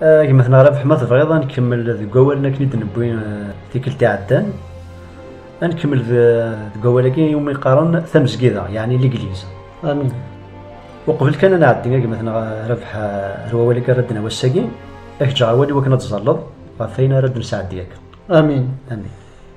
Gma-tneɣ Rabeḥ ma tebɣiḍ ad nkemmel deg wawalen akken i d-newwi tikkelt iɛeddan. Ad nkemmel deg wawal-agi iwumi qqaren tamezgida, yeɛni ligliz. Amin. Uqbel kan ad nɛeddi a gma-tneɣ Rabeḥ ar wawal-agi ara d-nawi ass-agi, ad k-ǧǧeɣ awal iwakken ad tẓalleḍ ɣef wayen ara d-nesɛeddi akka. Amin. Amin.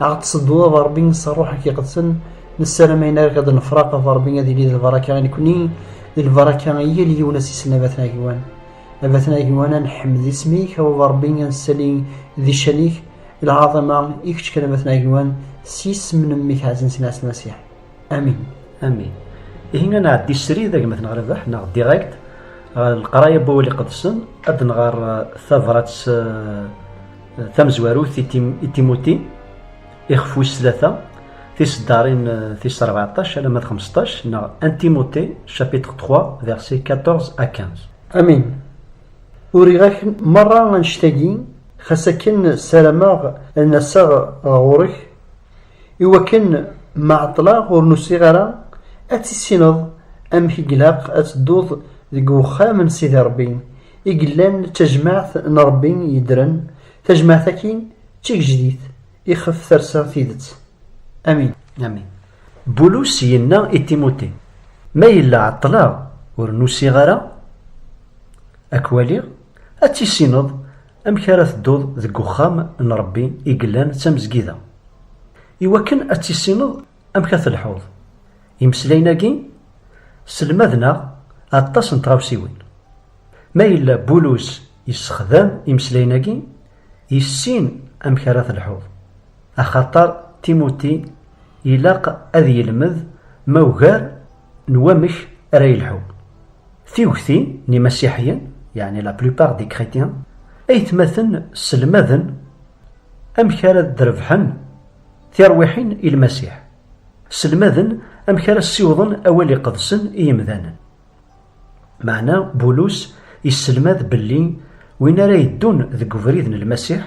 Ad ɣ-tsedduḍ ad Ṛebbi s Ṛṛuḥ-ik iqedsen, nessaram ayen ara k-d-nefṛeq ad Ṛebbi ad yili d lbaṛaka i nekkni, d lbaṛaka i yal yiwen a s-isel a Batna Agwan. A Batna Agwan a nḥemmed isem-ik, a Baba Ṛebbi a nessali di ccan-ik, lɛaḍima i kečč kan a Batna Agwan, s yisem n Mmi-k ɛzizen Sidi Ɛisa Masiḥ. Amin. Amin. Ihi a nɛeddi srid a gma-tneɣ Rabaḥ neɣ direct ɣer leqraya n wawal iqedsen, ad d-nɣer tabṛat s. tamezwarut i timuti ixef wis tlata tiseddarin tis 14 alamma d 15 neɣ antimuti chapitre 3 verset 14 à 15 amin uriɣ-ak merra annect-agi xas akken ssarameɣ ad n-aseɣ ɣur-k iwakken ma ɛeṭṭleɣ ur nusiɣ ara ad tissineḍ amek i ilaq ad tedduḍ deg uxxam n sidi rebbi i yellan d tajmaɛt n Ṛebbi yeddren, tajmaɛt-agi d tigejdit ixef tersa tidet. Amin. Amin. Bulus yenna i Timuti, Ma yella ɛeṭṭleɣ ur n-usiɣ ara ad k-waliɣ, ad tissineḍ amek ara tedduḍ deg uxxam n Ṛebbi i yellan d tamezgida, i wakken ad tissineḍ Amek ad telḥuḍ? Imeslayen-agi sselmaden-aɣ aṭas n tɣawsiwin. Ma yella Bulus yessexdam imeslayen-agi, yessin amek ara telḥuḍ, axaṭer Timuti ilaq ad yelmed ma ugar n wamek ara yelḥu. Tiwekti n imasiḥiyen, yeɛni la plupart des chrétiens, aytmaten sselmaden amek ara d-rebḥen. Tirwiḥin i Lmasiḥ. Sselmaden amek ara ssiwḍen awal iqedsen i yemdanen. Meɛna Bulus isselmad belli win ara yeddun deg ubrid n Lmasiḥ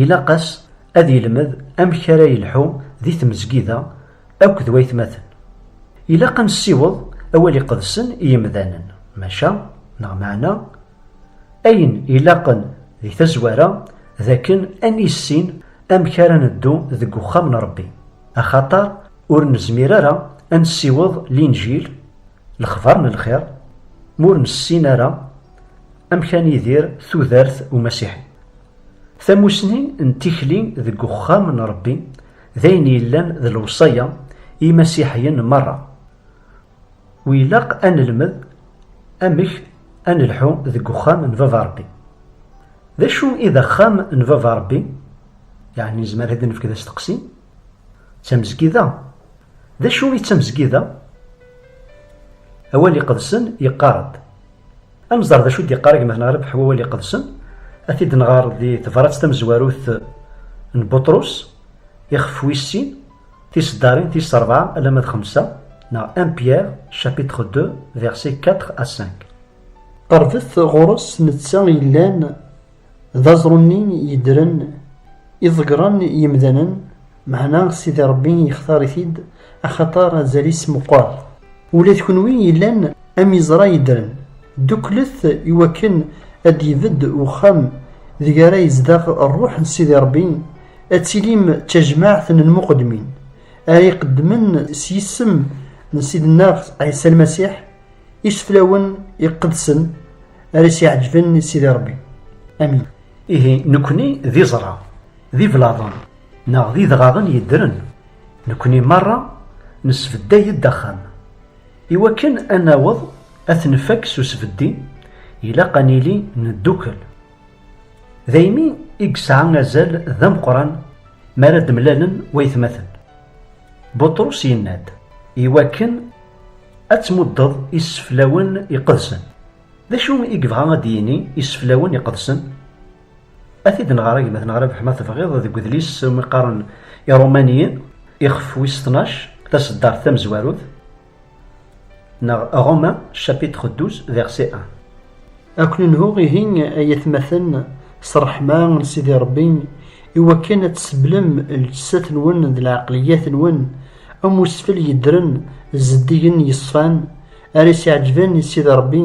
ilaq-as ad yelmed amek ara yelḥu di tmezgida akk d waytmaten. Ilaq ad nessiweḍ awal iqedsen i yemdanen, maca, neɣ meɛna, Ayen ilaqen di tazwara d akken ad nissin amek ara neddu deg uxxam n Rebbi, axaṭer ur nezmir ara ad nessiweḍ Linǧil, lexbar n lxir, ma ur nessin ara amek ad nidir tudert umasiḥi. Tamusni n tikli deg uxxam n Rebbi d ayen yellan d lewṣaya i yimasiḥiyen merra. Wi ilaq a nelmed amek a nelḥu deg uxxam n baba Rebbi. D acu i d axxam n baba Rebbi? Yeɛni nezmer ad nefk d asteqsi? D tamezgida. D acu i d tamezgida? Awal iqedsen yeqqar-d. Ad nẓer d acu i d-yeqqar gma neɣ Rebḥ wawal iqedsen, ad t-id-nɣer di tebrat tamezwarut n Buṭrus, ixef wis sin, Tiseddarin tis rebɛa alamma d xemsa neɣ 1 Pierre chapitre 2 versets 4 à 5. Qerbet ɣur-s netta yellan d aẓru-nni yeddren i ḍeggren yemdanen, meɛna Sidi Rebbi yextar-it-id axaṭer azal-is meqqer. Ula d kunwi yellan am iẓra yeddren, dduklet i wakken ad d-ibedd uxxam deg ara yezdeɣ Rruḥ n Sidi Ṛebbi, ad tilim d tajmaɛt n lmuqeddmin, ara iqeddmen s yisem n Ssid-nneɣ Ɛisa Lmasiḥ, iseflawen iqedsen ara as-iɛeǧben i Sidi Ṛebbi. Amin. Ihi, nekkni d iẓra, d iblaḍen neɣ d idɣaɣen yeddren, nekkni merra nesbedday-d axxam. I wakken ad naweḍ ad t-nfak s usbeddi, ilaq ad nili neddukel. Daymi i yesɛa azal d ameqqran mi ara d-mlalen waytmaten. Buṭrus yenna-d, I wakken ad tmuddeḍ iseflawen iqedsen. D acu i yebɣa ad d-yini iseflawen iqedsen? Ad t-id-nɣer a gma-tneɣ Rabeḥ ma tebɣiḍ deg udlis umi qqaren Irumaniyen, ixef wis tnac, taseddart tamezwarut, neɣ Romain, chapitre douze, verset un. Ad ken-nhuɣ ihi ay atmaten s ṛṛeḥma n Sidi Ṛebbi i wakken ad tseblem lǧessat-nwen d lɛeqliyat-nwen am usfel yeddren zeddigen yeṣfan, Ara s-iɛeǧben i Sidi Ṛebbi,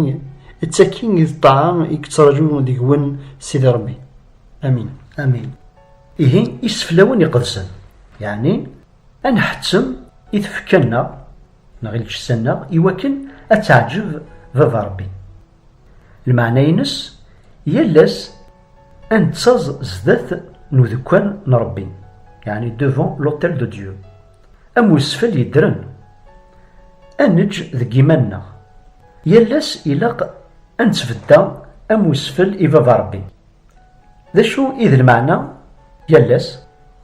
d taki i d ṭṭaɛa i yettraǧu deg-wen Sidi Ṛebbi. Amin. Amin. Ihi, iseflawen iqedsen, yeɛni ad nḥettem i tfekka-nneɣ neɣ i lǧessa-nneɣ iwakken ad teɛǧeb Baba Ṛebbi. Lmeɛna-ines, yal ass a nettaẓ zdat n udekkan n Ṛebbi, yeɛni devant l'autel de Dieu, am wesfel yeddren, a neǧǧ deg yiman-nneɣ. Yal ass ilaq a nettbedda am wesfel i Baba Ṛebbi. D acu i d lmeɛna yal ass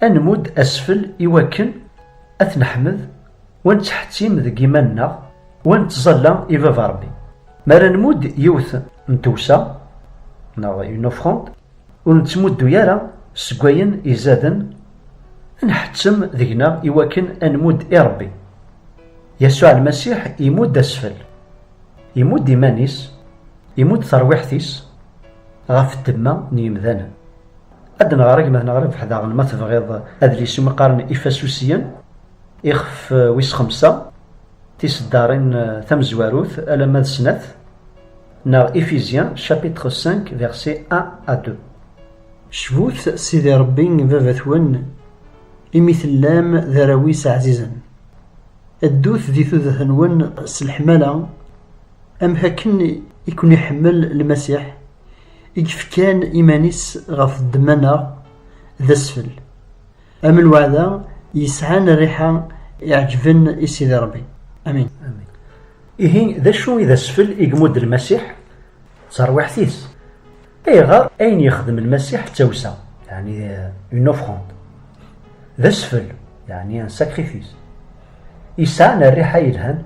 ad nmudd asfel i wakken ad t-neḥmed u ad nettḥettim deg yiman-nneɣ u ad nettẓalla i Baba Rebbi? Mi ara nmudd yiwet n tewsa neɣ une offrande, ur nettmuddu ara seg wayen izaden ad nḥettem deg-neɣ i wakken ad nmudd i Rebbi. Yasuɛ Lmasiḥ imudd asfel, imudd iman-is, imudd terwiḥt-is, Ɣef ddemma n yemdanen. Ad d-nɣer agmat neɣ rrbeḥ daɣen ma tebɣiḍ adlis iwumi qqaren Ifasusiyen, ixef wis xemsa, Tiseddarin tamezwarut alamma d snat, neɣ Ephésiens chapitre cinq versets un à deux. Cbut Sidi Ṛebbi baba-twen, imi tellam d arraw-is ɛzizen. Ddut di tudet-nwen s leḥmala. Amek akken i ken-iḥemmel Lmasiḥ, i yefkan iman-is ɣef ddemma-nneɣ, d asfel. Am lweɛda yesɛan rriḥa iɛeǧben i Sidi Rebbi. Amin. Ihi, d acu i d asfel i yemmud Lmasiḥ? D tarwiḥt-is. Ayɣer ayen yexdem Lmasiḥ d tawsa, yeɛni une offrande, d asfel, yeɛni un sacrifice, yesɛan rriḥa yelhan?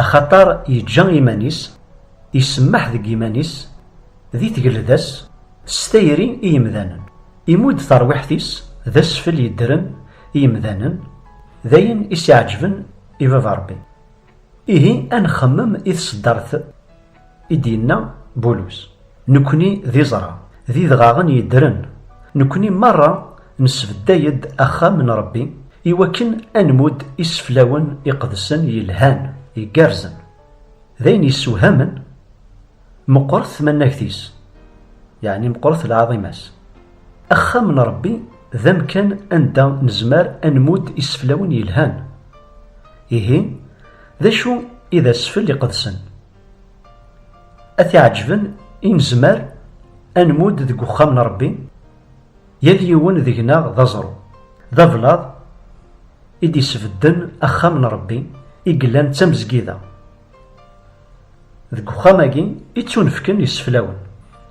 Axaṭer yeǧǧa iman-is, isemmeḥ deg yiman-is, di tgelda-s, s tayri i yemdanen. Imudd tarwiḥt-is d asfel yeddren i yemdanen, d ayen i s-iɛeǧben i Baba Ṛebbi. Ihi, a nxemmem i tseddart! I d-yenna Bulus, Nekkni d iẓra, d idɣaɣen yeddren, nekkni merra nesbedday-d axxam n Ṛebbi i wakken ad nmudd iseflawen iqedsen yelhan, igerrzen. D ayen yessewhamen, meqqret tmannagt-is, yeɛni meqqret lɛaḍima-s. Axxam n Ṛebbi d amkan anda nezmer ad nmudd iseflawen yelhan. Ihi, d acu i d asfel iqedsen? A t-iɛeǧben i nezmer ad nmudd deg uxxam n Ṛebbi, yal yiwen deg-neɣ d aẓru, d ablaḍ i d-isbedden axxam n Ṛebbi i yellan d tamezgida. Deg uxxam-agi i ttunefken iseflawen.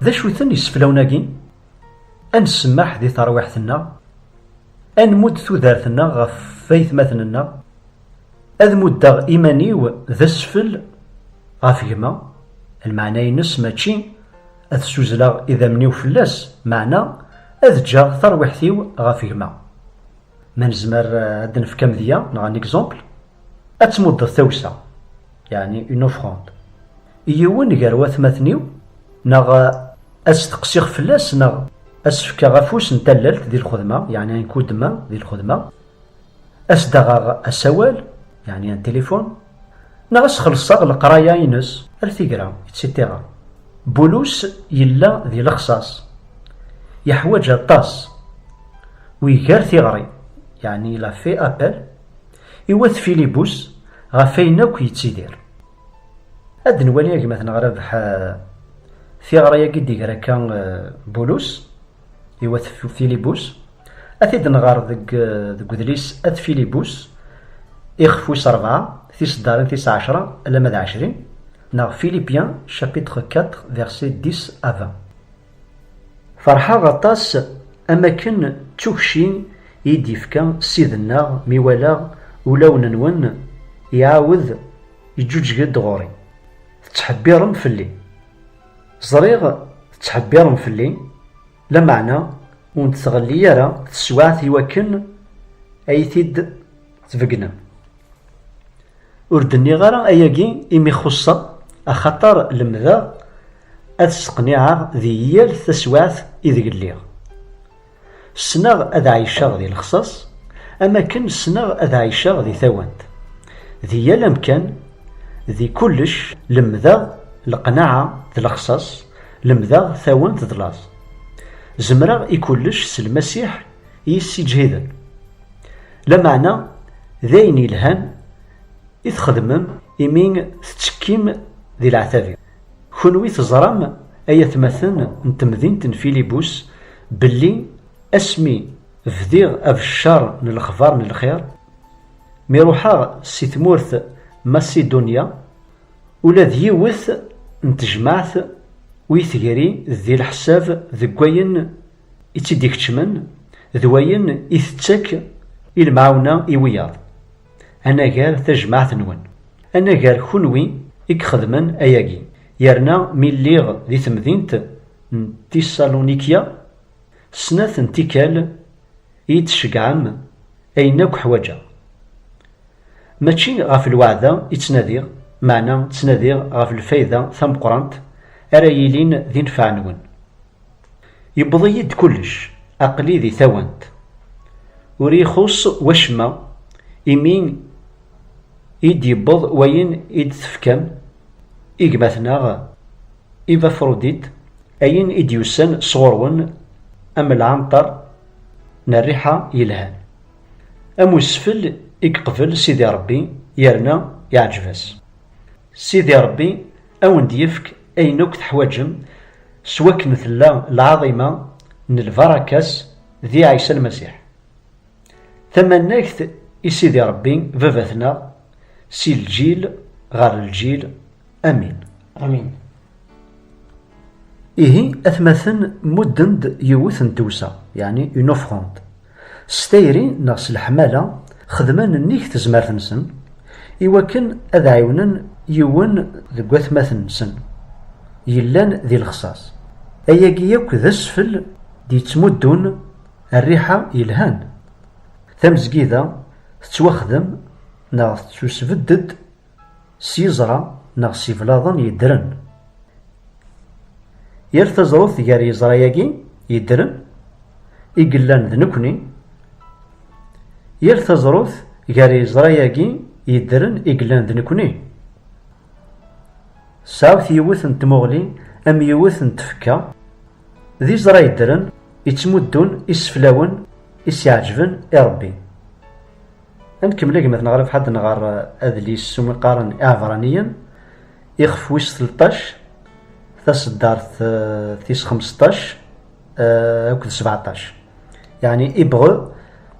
D acu-ten iseflawen-agi? Ad nsemmeḥ di terwiḥt-nneɣ, ad nmudd tudert-nneɣ ɣef waytmaten-nneɣ, Ad muddeɣ iman-iw d asfel ɣef gma, lmeɛna-ines mačči ad ssuzleɣ idammen-iw fell-as, meɛna ad ǧǧeɣ tarwiḥt-iw ɣef gma. Ma nezmer ad d-nefk amedya neɣ un exemple, ad tmuddeḍ tawsa, yeɛni une offrande, i yiwen gar watmaten-iw neɣ ad steqsiɣ fell-as neɣ ad s-fkeɣ afus n tallalt di lxedma, yeɛni un coup de main di lxedma. Ad s-d-aɣeɣ asawal, yeɛni un téléphone, neɣ ad s-xellṣeɣ leqraya-ines, ar tigra, etc. Bulus yella di lexṣaṣ, yeḥwaǧ aṭas, u iger tiɣri, yeɛni il a fait appel, i wat Filibus ɣef wayen akk yettidir. Ad d-nwali a gma-tneɣ Rabeḥ tiɣri-agi i d-iger akka Bulus. i wat Filibus, ad t-id-nɣer deg deg udlis At Filibus, ixef wis rebɛa, tiseddarin tis ɛecra alamma d ɛecrin, neɣ Philippiens chapitre quatre versets dix à vingt. Ferḥeɣ aṭas am akken d tukci i yi-d-yefka Ssid-nneɣ mi walaɣ ulawen-nwen iɛawed iǧǧuǧǧeg-d ɣur-i, tettḥebbiṛem fell-i. Ẓriɣ tettḥebbiṛem fell-i, lameɛna ur n-tettɣelli ara teswaɛt i wakken ad iyi-t-id-tbeggnem. Ur d-nniɣ ara ayagi imi xuṣṣeɣ, axaṭer lemdeɣ ad sseqniɛeɣ di yal taswaɛt ideg lliɣ. Ssneɣ ad ɛiceɣ di lexṣaṣ am akken ssneɣ ad ɛiceɣ di tawant. Di yal amkan, di kullec lemdeɣ leqnaɛa d lexṣaṣ, lemdeɣ tawant d laẓ. Zemreɣ i kullec s Lmasiḥ i yi-ssiǧhiden. Lameɛna d ayen yelhan i txedmem imi tettekkim di leɛtab-iw. Kunwi teẓram, ay atmaten n temdint n Filibus, belli asmi bdiɣ abeccer n lexbar n lxir, mi ruḥeɣ si tmurt Masidunya, ula d yiwet n tejmaɛt ur yi-tegri di leḥsab deg wayen i tt-id-ikeččmen d wayen i tettak i lemɛawna i wiyaḍ. Anagar tajmaɛt-nwen. Anagar kunwi i ixedmen ayagi. Yerna mi lliɣ di temdint n Tiṣalunikya, snat n tikkal i yi-d-tceggɛem ayen akk ḥwaǧeɣ. Mačči ɣef lweɛda i ttnadiɣ, meɛna ttnadiɣ ɣef lfayda tameqqrant ara yilin d inefɛen-nwen. Yewweḍ-iyi-d kullec, aql-i di tawant. Ur iyi-xuṣṣ wacemma imi i d-yewweḍ wayen i d-tefkam i gma-tneɣ Ivafrodit, ayen i d-yusan sɣur-wen am lɛenṭer n rriḥa yelhan. Am usfel i yeqbel Sidi Ṛebbi yerna yeɛǧeb-as. Sidi Ṛebbi a wen-d-yefk Ayen akk teḥwaǧem s wakken tella lɛaḍima n lbarakas di Ɛisa Lmasiḥ. Tamannagt i Sidi Rebbi Babatneɣ si lǧil ɣer lǧil. Amin. Amin. Ihi atmaten mudden-d yiwet n tewsa, yeɛni une offrande. S tayri neɣ s leḥmala, xedmen nnig tezmert-nsen i wakken ad ɛiwnen yiwen deg watmaten-nsen yellan di lexṣaṣ. Ayagi akk d asfel d-yettmuddun rriḥa yelhan. Tamezgida tettwaxdem neɣ tettusbedd-d S yiẓra neɣ s yiblaḍen yeddren. Yal taẓrut gar yiẓra-agi yeddren i yellan d nekkni, yal taẓrut gar yiẓra-agi yeddren i yellan d nekkni, tesɛut yiwet n tmuɣli am yiwet n tfekka, d iẓra yeddren yettmuddun iseflawen i s-iɛeǧben i Rebbi. Ad nkemmel agmat-nneɣ ɣer lefḥad n ɣer adlis s umi qqaren Iɛebraniyen, ixef wis tleṭṭac, taseddart tis xmesṭac akked sbeɛṭac, yeɛni Ibreu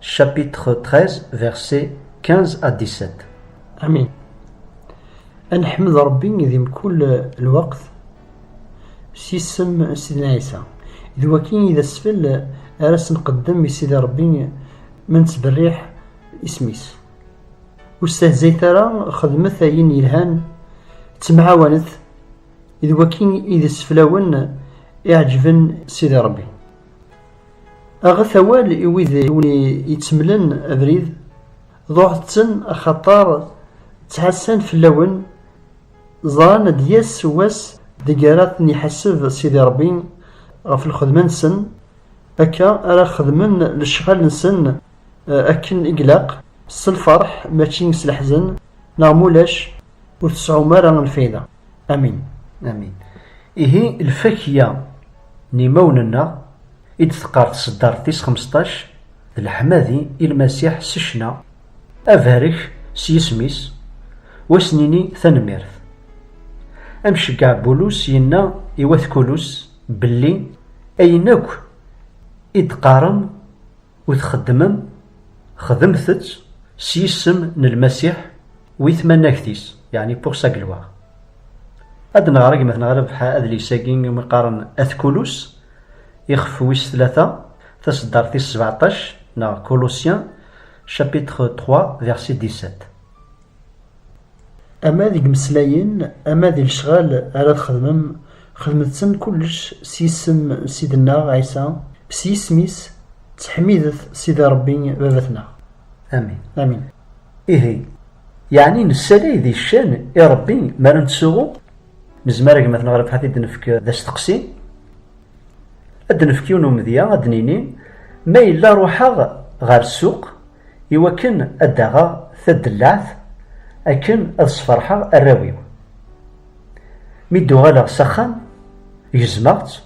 chapitre treize versets quinze à dix-sept. Amin. Ad neḥmed Ṛebbi di mkul lweqt. s yisem n Sidna Ɛisa. D waki i d asfel ara s-nqeddem i Sidi Ṛebbi ma nettberriḥ isem-is. Ur stehzayet ara, xedmet ayen yelhan, ttemɛawanet, d waki i d iseflawen iɛeǧben Sidi Ṛebbi. Aɣet awal i wid i wen-ittemlen abrid, ḍuɛet-ten axaṭer ttɛassan fell-awen Ẓran ad d-yas wass deg ara ten-iḥaseb Sidi Ṛebbi ɣef lxedma-nsen, akka ara xedmen lecɣal-nsen akken i ilaq, s lfeṛḥ mačči s leḥzen, neɣ ma ulac ur tseɛɛum ara lfayda. Amin. Amin. Ihi lfakya n imawen-nneɣ i d-teqqar tseddart tis xmesṭac, d leḥmadi i Lmasiḥ s ccna, Abarek s yisem-is, u ad s-nini tanemmirt. Amceggeɛ Bulus yenna i wat Kulus belli ayen akk i d-teqqarem u txeddmem, xedmet-tt s yisem n Lmasiḥ u i tmanagt-is, yeɛni pour sa gloire. Ad d-neɣer agmat neɣ ad nebḥa adlis-agi iwumi qqaren At Kulus, Ixef wis tlata, taseddart tis sbeɛṭac, neɣ Colossiens, chapitre trois, verset dix-sept. Ama deg imeslayen, ama di lecɣal ara txedmem, xedmet-ten kullec s yisem n Ssid-nneɣ Ɛisa, s yisem-is, ttḥemmidet Sidi Ṛebbi Baba-tneɣ. Amin. Amin. Ihi, yeɛni nessalay di ccan i Ṛebbi mi ara nettsuɣu? Nezmer a gma-tneɣ Rebḥa ad t-id-nefk d asteqsi? Ad d-nefk yiwen umedya, ad d-nini, ma yella ruḥeɣ ɣer ssuq i wakken ad d-aɣeɣ tadellaɛt akken ad sferḥeɣ arraw-iw. Mi d-uɣaleɣ s axxam, gezmeɣ-tt,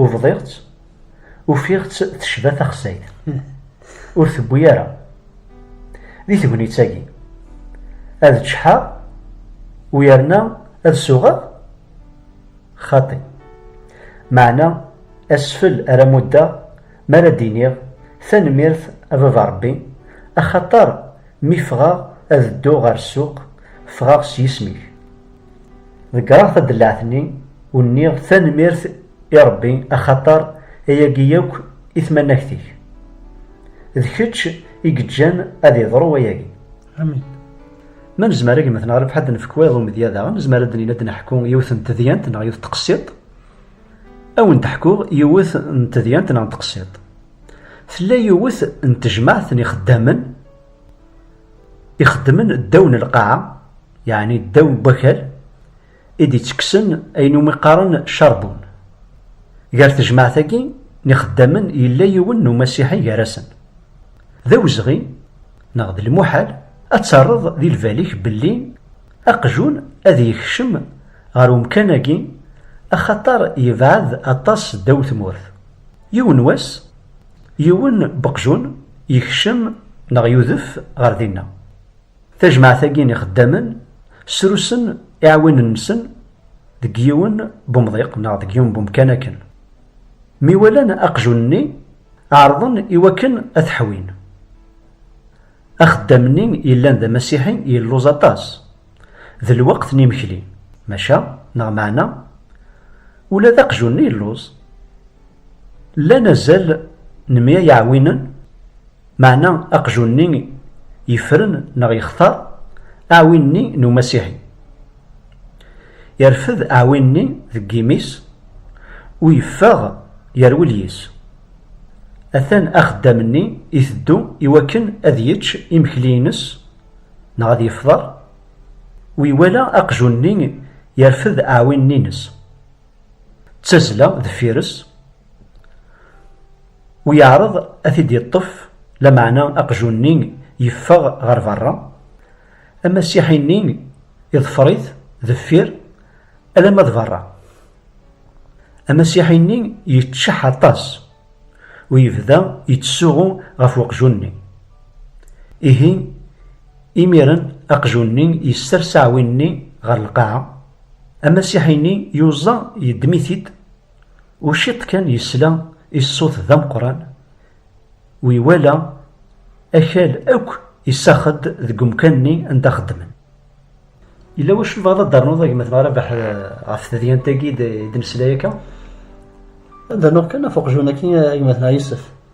ubḍiɣ-tt, ufiɣ-tt tecba taxsayt. Ur tewwi ara. Di tegnit-agi, ad ččḥeɣ u yerna ad suɣeɣ? Xaṭi. Meɛna asfel ara muddeɣ mi ara d-iniɣ, Tanemmirt a baba Ṛebbi, axaṭer mi ffɣeɣ ad dduɣ ɣer ssuq, ffɣeɣ s yisem-ik. Ḍeggreɣ tadellaɛt-nni u nniɣ tanemmirt i Ṛebbi axaṭer ayagi yakk i tmanagt-ik. D kečč i yeǧǧan ad yeḍru wayagi. Amin. Ma nezmer ad gmet neɣ lefḥad nefk wayeḍ umedya daɣen, nezmer ad d-nini ad d-neḥku yiwet n tedyant neɣ yiwet teqsiḍt. Ad wen-d-ḥkuɣ yiwet n tedyant neɣ n teqsiḍt. Tella yiwet n tejmaɛt n ixeddamen ixeddmen ddaw n lqaɛa, yeɛni ddaw n wakal, i d-ittekksen ayen umi qqaren charbon. Gar tejmaɛt-agi n ixeddamen yella yiwen n umasiḥi gar-asen. D awezɣi, neɣ d lmuḥal, ad terreḍ di lbal-ik belli aqjun ad yekcem ɣer umkan-agi axaṭer yebɛed aṭas ddaw tmurt. Yiwen wass, yiwen n uqjun yekcem neɣ yudef ɣer dinna. Tajmaɛt-agi n ixeddamen srusen iɛwinen-nsen deg yiwen n umḍiq neɣ deg yiwen n umkan akken mi walan aqjun-nni ɛerḍen i wakken ad t-ḥwin. Axeddam-nni yellan d amasiḥi yelluẓ aṭas d lweqt n imekli, maca neɣ meɛna ula d aqjun-nni yelluẓ. Llan azal n mya yiɛwinen. Meɛna aqjun-nni yefren neɣ yextar aɛwin-nni n umasiḥi. Irfed aɛwin-nni deg yimi-s u yeffeɣ yerwel yis. Atan axeddam-nni iteddu iwakken ad yečč imekli-ines neɣ ad yefḍer u iwala aqjun-nni irfed aɛwin-nni-ines. D tazla deffir-s. U yeɛreḍ ad t-id-yeṭṭef, lameɛna aqjun-nni yeffeɣ ɣer berra. Amasiḥi-nni iḍfer-it deffir alamma d berra. Amasiḥi-nni yeččeḥ aṭas u yebda yettsuɣu ɣef weqjun-nni. Ihi, imiren aqjun-nni yessers aɛwin-nni ɣer lqaɛa. Amasiḥi-nni yuẓa yeddem-it-id. U ciṭ kan yesla i ṣṣut d ameqqran u iwala akal akk isax-d deg umkan-nni anda xeddmen. Yella wacu tebɣiḍ ad d-ternuḍ a gma-tneɣ Rabaḥ ɣef tedyant-agi i d-nesla akka? Ad d-rnuɣ kan ɣef uqjun-agi a gma-tneɣ Yusef.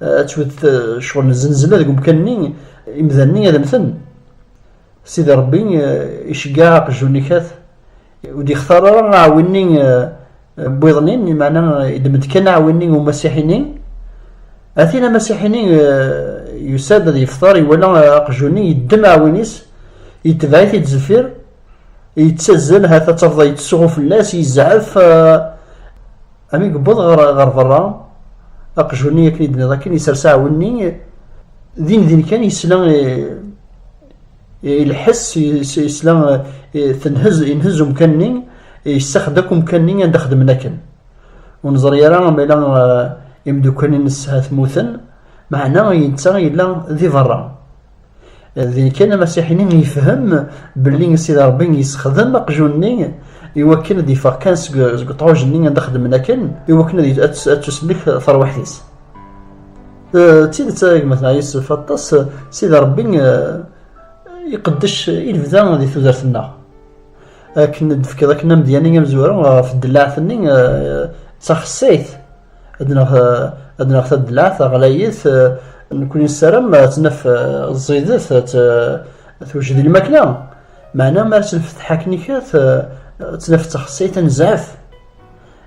ad twet ccɣel n zenzela deg umkan-nni imdanen-nni ad mmten sidi rebbi iceggeɛ aqjun ikat ur d-ixtar ara aɛwin-nni n wiḍen-nni limaɛna idem-d kan aɛwin-nni umasiḥi-nni atin amasiḥi-nni yusa-d ad yeftar iwala aqjun-nni yeddem aɛwin-is yetbeɛ-it-id zeffir yettazzal hata tafḍa yettsuɣu fell-as yezɛef eh, ami yewweḍ ɣer ɣer berra aqjuni akken id-nniḍ akken yessers aɛwenni din din kan yesla ilḥes yesla tenhez inhez umkan-nni yessaxed akk umkan-nni anda xedmen akken ur neẓri ara ma yella eh, imeddukal-nnes ha tmuten meɛna yenta yella di berra Din kan amasiḥi-nni yefhem belli Sidi Ṛebbi yessexdem aqjun-nni iwakken ad d-yeffeɣ kan seg uṭɛuj-nni anda xedmen akken iwakken ad tusellek terwiḥt-is. D tidet ay gma Tɛisa yessef aṭas Sidi Ṛebbi iqeddec i lebda di tudert-nneɣ. Akken d-tefkiḍ akken amedya-nni amezwaru ɣef ddellaɛt-nni d taxessayt. ad naf ad naf taddlaɛt ɣlayet nekni nessaram ad tnaf ẓidet ad twejed lmakla meɛna mi ara tt-nfetteḥ akken ikat ad tnaf d taxsayt ad nezɛef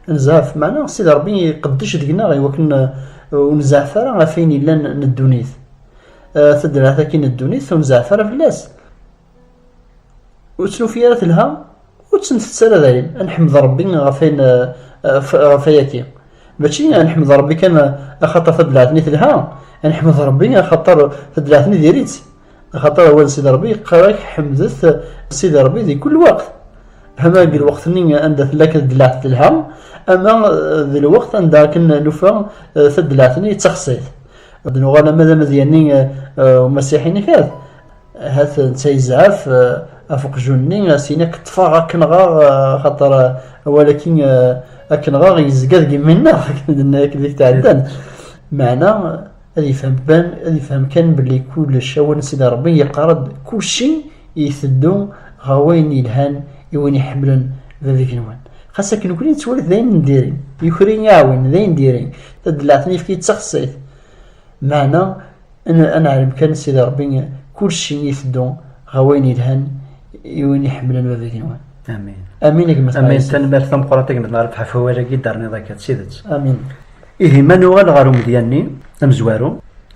ad nezɛef meɛna Sidi Ṛebbi iqeddec deg-neɣ i wakken ur nezɛef ara ɣef ayen yellan n ddunit taddlaɛt akkin n ddunit ur nezɛef ara fell-as ur tt-nufi ara telha ur tt-ntett ara dayen ad nḥmed Rebbi ɣef ayen ɣef ayaki mačči ad nḥmed Rebbi kan axaṭer taddlaɛt-nni telha ad nḥmed Rebbi axaṭer taddlaɛt-nni diri-tt axaṭer awal Sidi Rebbi yeqqar-ak ḥemdet Sidi Rebbi di kul lweqt ama deg lweqt-nni anda tella taddlaɛt telha ama d lweqt anda akken nufa taddlaɛt-nni d taxsayt ad nuɣal ama d amedya-nni umasiḥi-nni kan Ahat netta yezɛef ɣef uqjun-nni, as-in ad k-ṭṭfeɣ ad k-nɣeɣ, axaṭer awal ad k-nɣeɣ yezga deg yimi-nneɣ, akken deg tɛeddan. Meɛna ad yefhem kan, ad yefhem kan belli kullec awal n Sidi Ṛebbi yeqqar-d kulci iteddu ɣer wayen yelhan i win iḥemmlen Bab igenwan. Xas akken nekkni nettwali-t d ayen n diri, yuker-iyi aɛwin, d ayen diri, tadelaɛt n yefki d taxsayt. Meɛna Ad neɛlem kan Sidi Ṛebbi kulci iteddu ɣer wayen yelhan i win iḥemmlen baba igenwan. Amin. Amin a gma Sidi. Amin tanmert tameqqrant a gma Sidi Ṛebbi ɣef wawal-agi i d-terniḍ akka d tidet. Amin. Ihi ma nuɣal ɣer umedya-nni amezwaru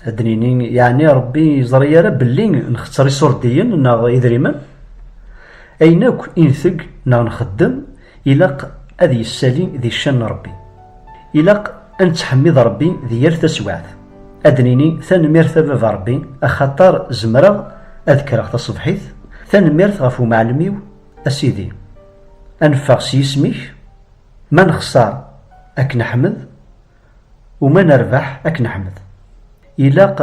ad d-nini yeɛni Ṛebbi yeẓri ara belli nxetter iṣurdiyen neɣ idrimen? Ayen akk i nteg neɣ nxeddem ilaq ad yessali di ccan n Ṛebbi. Ilaq ad nettḥemmid Ṛebbi di yal taswiɛt. ad nini tanemmirt a baba Rebbi axaṭer zemreɣ ad kkreɣ taṣebḥit, tanemmirt ɣef umɛellem-iw a Sidi. A neffeɣ s yisem-ik, ma nexṣer ad k-neḥmed u ma nerbeḥ ad k-neḥmed. Ilaq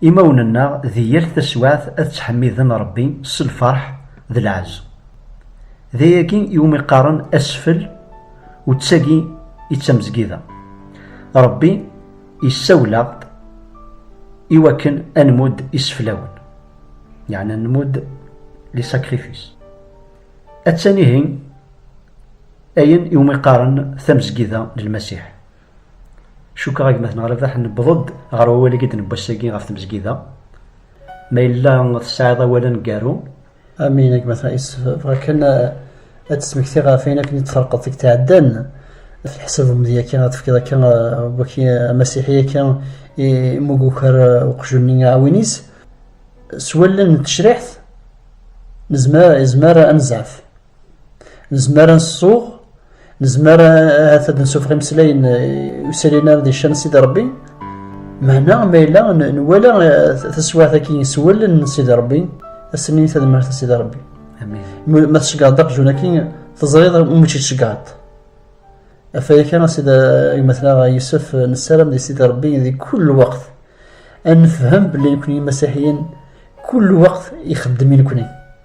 imawen-nneɣ di yal taswaɛt ad ttḥemmiden Rebbi s lferḥ d lɛezz. D ayagi iwumi qqaren asfel u d tagi i d tamezgida. Rebbi. Yessawel-aɣ-d i wakken ad nmudd iseflawen, yeɛni ad nmudd li sacrifice. Attan ihi ayen iwumi qqaren tamezgida n Lmasiḥ. Cukkeɣ a gma tenɣa Rabaḥ newweḍ-d ɣer wawal-agi d-newwi ass-agi ɣef tmezgida. Ma yella tesɛiḍ awal aneggaru Amin, a gma Taïs. Vraken, ad tesmekti ɣef ayen akken i d-terqeḍ deg tɛeddan ɣef leḥsab umedya kan ad tefkiḍ akka waki amasiḥi akka imug ukar uqjun-nni aɛwin-is s wallen n tecriḥt nezmer nezmer ad nezɛef Nezmer ad nsuɣ, nezmer ahat ad nsufeɣ imeslayen usalin ara d-iccan Sidi Rebbi, meɛna ma yella nwala taswiɛt-agi s wallen n Sidi Rebbi, ass-nni tadmert a Sidi Rebbi. Ma tceggaḍ aqjun-agi, teẓriḍ umi tt-id-tceggaḍ. Afayek-a a Sidi Gmatlaɣ Yusef, nessaram di Sidi Rebbi di kull lweqt ad nefhem belli nekni imasiḥiyen kull lweqt ixeddem i nekni.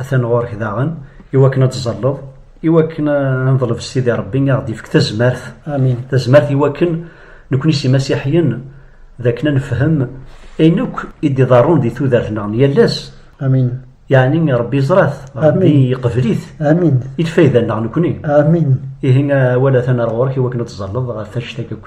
Atan ɣur-k daɣen, iwakken ad tẓalleḍ, iwakken ad neḍleb s Sidi Rebbi i aɣ-d-ifk tazmert. Amin. Tazmert iwakken nekkni s imasiḥiyen d akken ad nefhem ayen akk i d-iḍerrun di tudert-nneɣ n yal ass. Amin. Yeɛni Rebbi yeẓra-t, Rebbi yeqbel-it. Amin. I lfayda-nneɣ nekkni. Amin. Ihi awal atan ar ɣur-k iwakken ad tẓalleḍ ɣef annect-agi akk.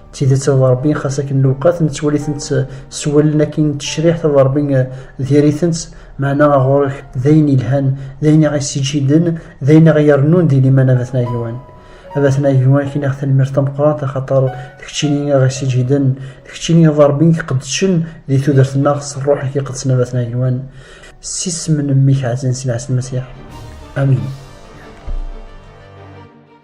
d tidet a Ṛebbi xas akken lewqat nettwali-tent s wallen akin n tecriḥt a Ṛebbi diri-tent meɛna a ɣur-k d ayen yelhan d ayen i ɣ-yessiǧhiden d ayen i ɣ-yerrnun di liman a Batna Agiwan a Batna Agiwan kiniɣ tanemmirt tameqqrant axaṭer d keččini i ɣ-yessiǧhiden d keččini a Ṛebbi i iqeddcen di tudert-nneɣ s Ṛṛuḥ-ik iqedsen a Batna Agiwan s isem n mmi-k ɛzan Sidi Ɛissen Masiḥ amin